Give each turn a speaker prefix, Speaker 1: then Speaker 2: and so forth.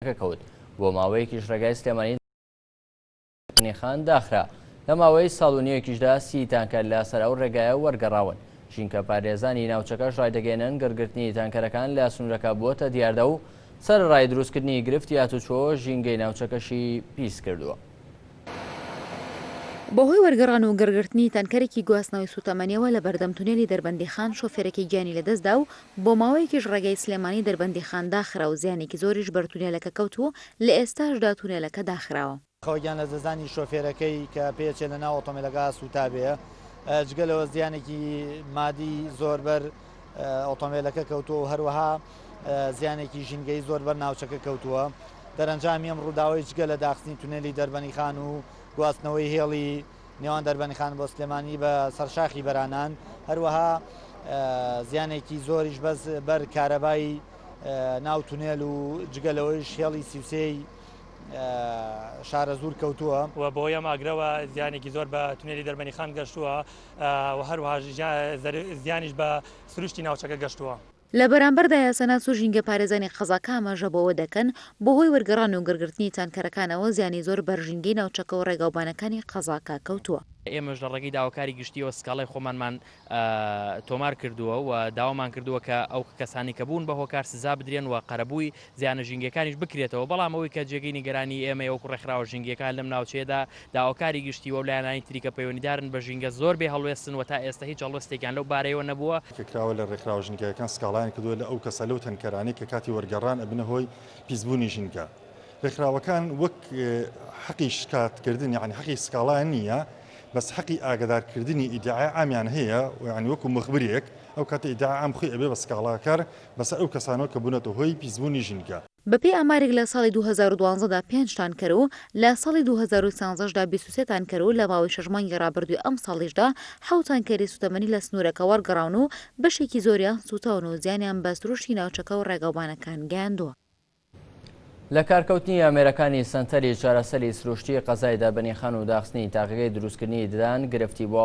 Speaker 1: ڕێگاکە کەوت، بۆ ماوەیەکیش ڕێگای سلێمانی لە غنیخان داخرا، لە ماوەی ساڵ و نیوێکیشدا سی تانکەر لە سەر ئەو ڕێگایە وەرگەڕاون، ژینکە پارێزانی ناوچەکەش ڕایدەگەیەنن گڕگرتنی تانکەرەکان لە سنورەکە بووەتە دیاردە و سەرەڕای دروستکردنی گرفتی هاتوچۆ ژینگەی ناوچەکەشی پیس کردووە.
Speaker 2: بەهۆی وەرگەڕان و گڕگرتنی تانکەرێکی گواستنەوەی سوتەمەنیەوە لە بەردەم تونێلی دەربەندیخان شۆفێرەکەی گیانی لەدەستدا و بۆ ماوەیەکیش ڕێگای سلێمانی دەربەندیخان داخرا و زیانێکی زۆریش بەر تونێلەکە کەوت و لە ئێستاشدا تونێلەکە داخراوە. خەوگیان لەدەستدانی
Speaker 3: شۆفێرەکەی کە پێیەچێت لەناو ئۆتۆمێلەکە سووتابێ، جگە لەوە زیانێکی مادی زۆر بەر ئۆتۆمێلەکە کەوتووە و هەروەها زیانێکی ژینگەیی زۆر بەر ناوچەکە کەوتووە. دەرەنجامی ئەم ڕووداوەی جگە لە داخستنی تونێلی دەربەنیخان و گواستنەوەی هێڵی نێوان دەربەنیخان بۆ سلێمانی بە سەر شاخی بەرانان هەروەها زیانێکی زۆریش بەس بەر کارەبای ناو تونێل و جگە لەوەیش هێڵی سیوسێی شارە زور کەوتووە و بۆ یەم ئاگرەوە
Speaker 4: زیانێکی زۆر بە تونێلی دەربەنی خان گەشتووە و هەروها زیانیش بە سروشتی ناوچەکە گەشتووە. لە بەرامبەردا
Speaker 2: یاساناس و ژینگە پارێزانی قەزاکە ئاماژە بەوە دەکەن، بەهۆی وەرگەڕان و گڕگرتنی تانکەرەکانەوە زیانی زۆر بەر ژینگەی ناوچەکە و ڕێگاوبانەکانی قەزاکە کەوتووە. ئێمەش لە ڕێگەی
Speaker 5: داواکاری گشتییەوە سکاڵای خۆمانمان تۆمار کردووە و داوامان کردووە کە ئەو کەسانەی کە بوون بە هۆکار سزا بدرێن و قەرەبووی زیانە ژینگەکانیش بکرێتەوە، بەڵام ئەوەی کە جێگەی نیگەرانیی ئێمەیە وەکو ڕێکخراوە ژینگەکان لەم ناوچەیەدا، داوکاری گشتی و لایەنانی تری کە پەیوەندیدارن بە ژینگە زۆر بێ هەڵوێستن و تا ئێستە هیچ هەڵوێستێکیان لەو بارەیەوە نەبووە. ڕێکخراوە لە ڕێکخراوە
Speaker 6: ژینگەیەکان سکاڵایان کردووە لە ئەو کەسە لەو تەنکەرانەی کە کاتی وەرگەڕان ئەبنە هۆی پیسبوونی ژینگە. ڕێکخراوەکان وەک حەقی شکاتکردن یانی حەقی سکاڵایان نییە بەس حەقی ئاگەدارکردنی ئیدعای عامیان هەیە و یانی وەکو موخبرێک ئەو کاتە ئیدعای عام خۆی ئەبێ بە سکاڵاکەر بەسەر ئەو کەسانەوە کە بوونەتە هۆی پیسبوونی ژینگە. بەپێی ئامارێک لە
Speaker 2: ساڵی دوو هەزار و دوازدە دا پێنج تانکەر و لە ساڵی دوو هەزار و سیانزە دا بیست و سێ تانکەر و لە ماوەی شەش مانگی ڕابردووی ئەمساڵیشدا حەوت تانکەری سووتەمەنی لە سنوورەکە وەرگەڕاون و بەشێکی زۆریان سووتاون و زیانیان بە سروشتی ناوچەکە و ڕێگاوبانەکان گەیاندووە.
Speaker 1: لەکارکەوتنی ئامێرەکانی سەنتەری چارەسەری سروشتی قەزای دابەنیخان و داخستنی تاقیگەی دروستکردنی ددان گرفتی بۆ.